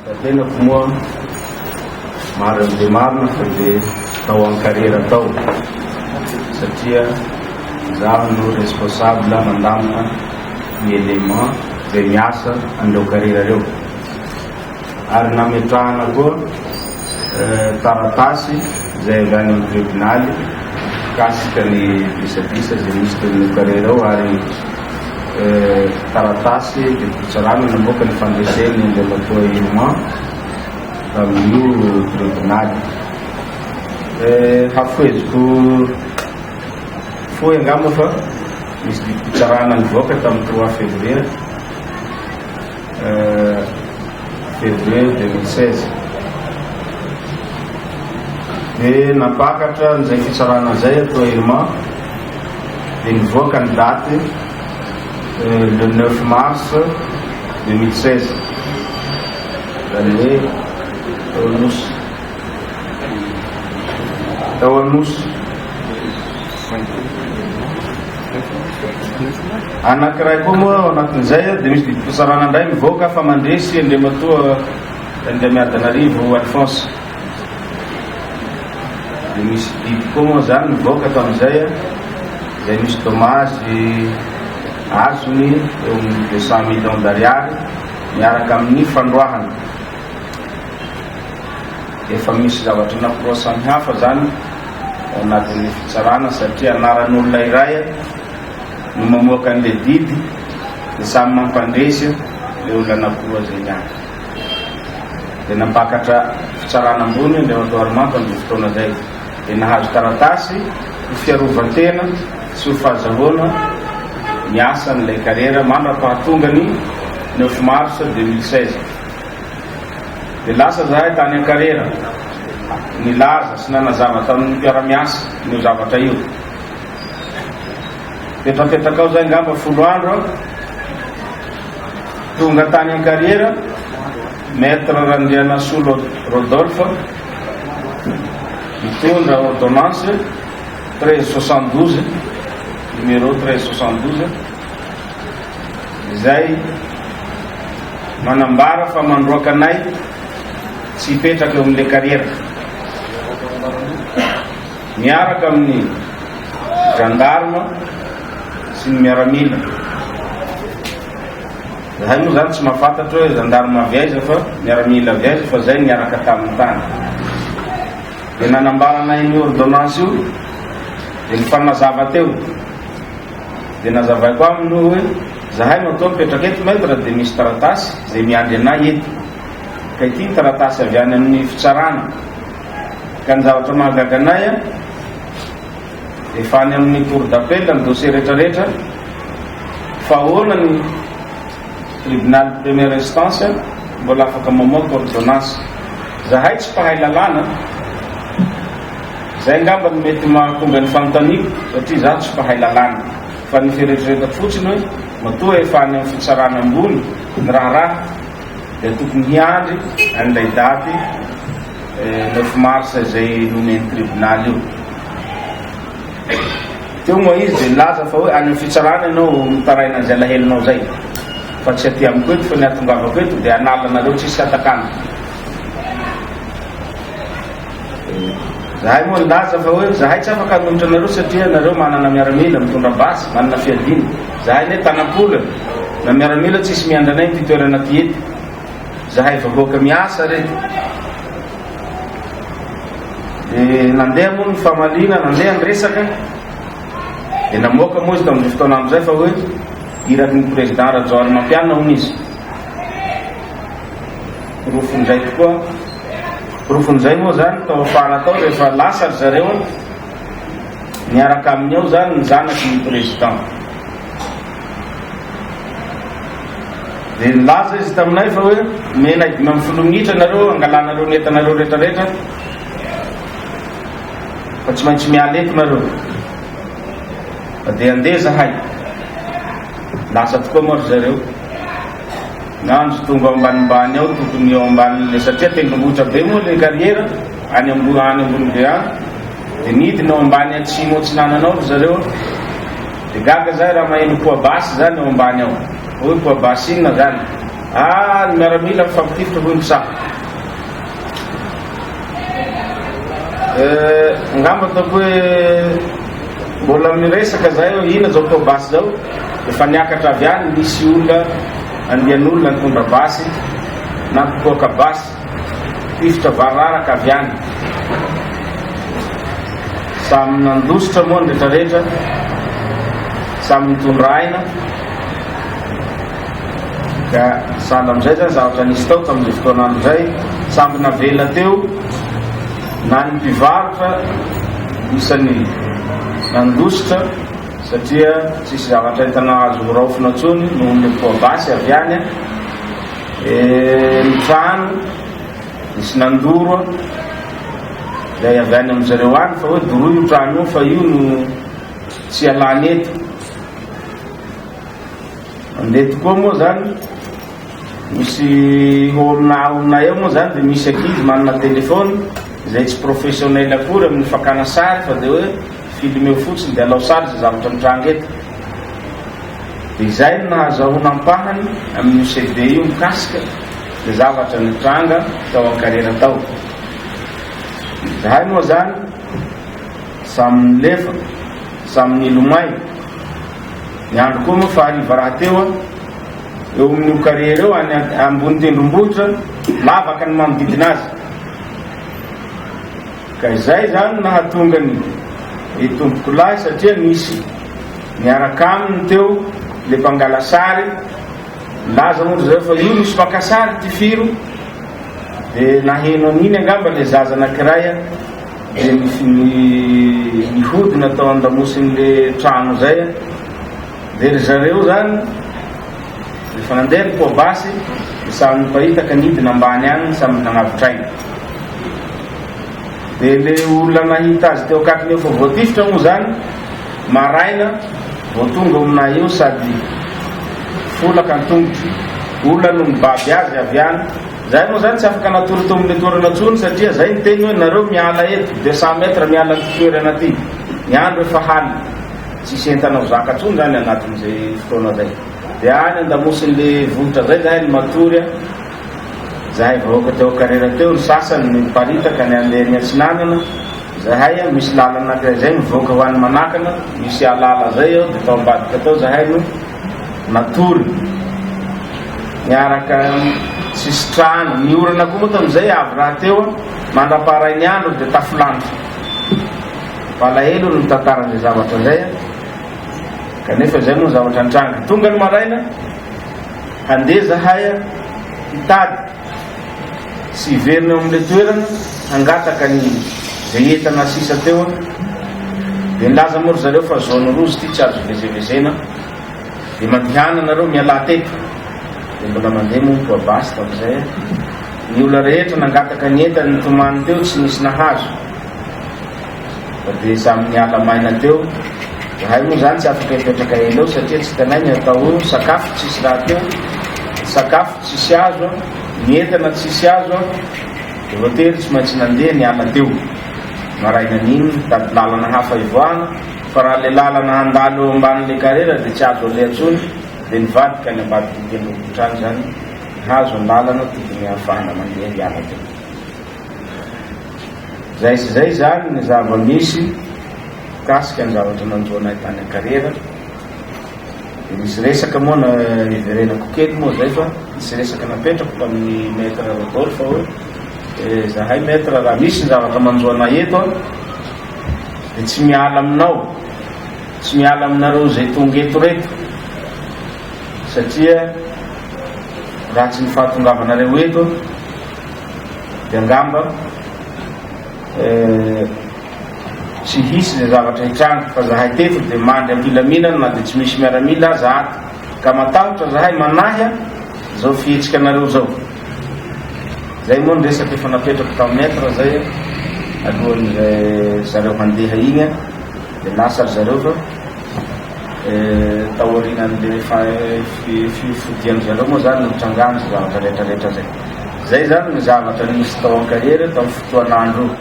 Raha tenako moa, marina dia marina fa dia tao ankarera tao, satria izaho no responsable mandamina ny élément izay miasa an'ireo karera ireo, ary nametrahana koa Taratasy izay avy any amin'ny tribonaly mikasika ny disadisa izay nisy teo amin'ireo kare ireo ary taratasy didim-pitsarana namoaka ny fandresen'ny Andriamatoa Irma tamin'io tribonaly. Hafoheziko fohy angamba fa nisy didim-pitsarana nivoaka tamin'ny trois février. Février 2016 dia nampakatra an'izay fitsarana izay ato Ailma dia nivoaka ny daty le 9 mars 2016 izany hoe tao Anosy tao Anosy Anankiray koa moa ao anatin'izay dia misy didy fisarahana indray mivoaka fa mandresy Andriamatoa Andriamiadanarivo Alphonse. Dia misy didy koa moa izany mivoaka tamin'izay izay misy dommage azony eo amin'ny deux cent millions d'ariary miaraka amin'ny fandroahana. Efa misy zavatra naproasany hafa izany ao anatin'ny fitsarana satria anaran'olona iray no mamoaka an'ilay didy dia samy mampandresy ilay olona anakiroa izay niatrika. Dia nampakatra fitsarana ambony Andriamatoa Harimanta amin'izay fotoana izay dia nahazo taratasy ho fiarovan-tena sy ho fahazahoana ny asan'ilay karera mandra-pahatongany neuf mars deux mille seize. Dia lasa izahay tany Ankarera, nilaza sy nanazava tamin'ny mpiara-miasa an'io zavatra io. Petrapetaka ao izay angamba folo andro aho, tonga tany Ankarera, Maître Randrianasolo Rodolphe, mitondra ordonnance 1372, numéro 1372, izay manambara fa mandroaka anay tsy hipetraka eo amin'ilay kariera. Miaraka amin'ny gendarme sy ny miaramila. Zahay moa zany tsy mahafantatra hoe gendarme avy aiza fa miaramila avy aiza fa zay niaraka tamin'ny tany. Dia nanambarana iny ordonnance io dia nifanazava teo. Dia nazavaiko aminy hoe, hoe, Zahay no atoa mipetraka eto, Maître, dia misy taratasy izay miandry anay eto. Ka ity ny taratasy avy any amin'ny fitsarana. Ka ny zavatra mahagaga anay an, efa any amin'ny Cour d'appel ny dossier rehetrarehetra, fa ahoana ny Tribunal de première instance mbola afaka mamoaka ordonnance. Zahay tsy mpahay lalàna. Izay angamba no mety mahatonga ny fanontaniako satria izaho tsy mpahay lalàna fa ny fieritreretako fotsiny hoe matoa efa any amin'ny fitsarana ambony ny raharaha dia tokony hiandry an'ilay daty neuf mars izay nomen'ny tribonaly io teo moa izy dia nilaza fa hoe any amin'ny fitsarana ianao mitaraina an'izay lahelinao izay fa tsy aty amiko eto fa ny atongavako eto dia hanala anareo tsisy hatakana Zahay moa nilaza fa hoe zahay tsy afaka hanohitra anareo satria ianareo manana miaramila mitondra basy, manana fiadiana. Zahay anie tana-kolany, na miaramila tsisy miandry anay amin'ity toerana ity eto. Zahay vahoaka miasa re. Dia nandeha moa ny famaliana, nandeha ny resaka. Dia namoaka moa izy tamin'izay fotoana andro izay fa hoe iraky ny président Rajaonarimampianina hono izy. Porofo indray tokoa Porofon'izay moa izany tao afara tao rehefa lasa ry zareo niaraka aminy ao izany ny zanaky ny Président. Dia nilaza izy taminay fa hoe omenay dimy amby folo minitra nareo hangalanareo ny entanareo rehetrarehetra fa tsy maintsy miala eto nareo. Dia handeha zahay. Lasa tokoa moa ry zareo. Nandry tonga ao ambanimbany ao tokony eo ambanin'ilay satria tendrombohitra be moa ilay carrière any ambony any ambony be any dia nidina ao ambany atsimo atsinanana ao ry zareo dia gaga zay raha maheno poabasy zany ao ambany ao hoe poabasy inona zany ah ny miaramila mifampititra hoy ny saha Angamba ataoko hoe mbola miresaka zahay hoe ina zao atao basy zao efa niakatra avy any nisy olona andian'olona nitondra basy na mpitoaka basy tifitra vararaka avy any samy nandositra moa ny rehetrarehetra samy nitondra aina Ka sahala amin'izay izany zavatra nisy tao tamin'izay fotoana izay, samy navela teo na ny mpivarotra isan'ny nandositra satria tsisy zavatra entana azo horaofina intsony noho ny poids basy avy any, ny trano nisy nandoro ilay avy any amin'izay reo any fa hoe doroy io trano io fa io no tsy alany eto. Mandeha tokoa moa zany, misy olona olona eo moa zany dia misy ankizy manana téléphone izay tsy professionnel akory amin'ny fakana sary fa dia hoe filmeo fotsiny dia alao sary izay zavatra mitranga eto. Dia izay no nahazahoana ampahany amin'io CD io mikasika izay zavatra nitranga tao an-karera tao. Izahay moa zany samy nilefa, samy nilomay. Ny andro koa moa fa hariva rahateo an, eo amin'io carrière io any ambony tendrombohitra, lavaka ny manodidina azy. Ka izay izany nahatonga ny ry tompoko lahy satria nisy niaraka aminy teo le mpangala sary, nilaza moa ry zareo fa io misy mpaka sary tifiro, dia naheno an'iny angamba le zaza anankiray an. Dia nisy nihodina tao an-damosin'ilay trano izay an! Dia ry zareo izany, rehefa nandeha ny poa-basy, dia samy nipahitaka nidina ambany any samy nanavotr'aina. Dia ilay olona nahita azy teo akaikiny eo fa voatifitra moa izany, maraina vao tonga ao aminay eo sady folaka an-tongotro. Olona no nibaby azy avy any. Zahay moa zany tsy afaka natory teo amin'ny toerana tsony satria zay ny teny hoe nareo miala eto deux cent mètres miala anty toerana aty ny andro efa haly tsisy entana ho zaka tsony zany anatin'izay fotoana zay de any andamosin'le vohitra zay zahay ny matory a zahay vahoaka teo karera teo ny sasany ny paritaka ny andeha ny atsinanana zahay a misy lalana anakizay zay mivoaka ho any manakana misy alala zay eo de tao ambadika tao zahay no Natory niaraka sisin-trano. Ny orana koa moa tamin'izay avy rahateo, mandra-paharain'ny andro dia tafilanitra. Malahelo ny mitantara an'izay zavatra izay, kanefa izay moa ny zavatra nitranga. Tonga ny maraina, handeha izahay hitady. Tsy hiverina eo amin'ilay toerana hangataka ny izay entana sisa teo aho. Dia nilaza moa ry zareo fa zone rouge ity tsy azo ivezevezena. Dia mandehana nareo mialà teto. Dia mbola mandeha moa ny toa basy tamin'izay aho. Ny olona rehetra nangataka ny entany nitomany teo tsy nisy nahazo. Dia samy niala maina teo. Izahay moa izany tsy afaka hipetraka ela eo satria tsy hitanay ny atao eo, sakafo tsisy rahateo, sakafo tsisy azo, ny entana tsisy azo, dia voatery tsy maintsy nandeha niala teo. Marainan'iny nitady lalana hafa hivoahana fa raha ilay lalana handalo eo ambanin'ilay karera dia tsy azo aleha intsony dia nivadika any ambadik'ity tendrombohitra any izany, nihazo ny lalana tokony hahafahana mandeha hiala teo. Izay sy izay izany ny zava-misy mikasika ny zavatra nanjo anay tany an-karera. Dia nisy resaka moa na niverenako kely moa izay fa nisy resaka napetrako tamin'ny Maître Rodolphe hoe eh, zahay Maître raha misy ny zavatra manjo anay eto an, dia tsy miala aminao, tsy miala aminareo izay tonga eto reto satria raha tsy ny fahatongavanareo eto dia angamba tsy hisy izay zavatra hitranga fa zahay teto dia mandry am-pilaminana na dia tsy misy miaramila aza ato ka matahotra zahay manahy izao fihetsika anareo izao zay moa ny resaka efa napetrako tamin'ny maître zay alohan'izay zareo handeha iny dia lasa ry zareo fa Taorian'ilay fifodian-dry zareo moa izany no nitrangan' izay zavatra rehetrarehetra izay. Izay izany no zavatra nisy tao Ankahery tamin'io fotoan'andro io.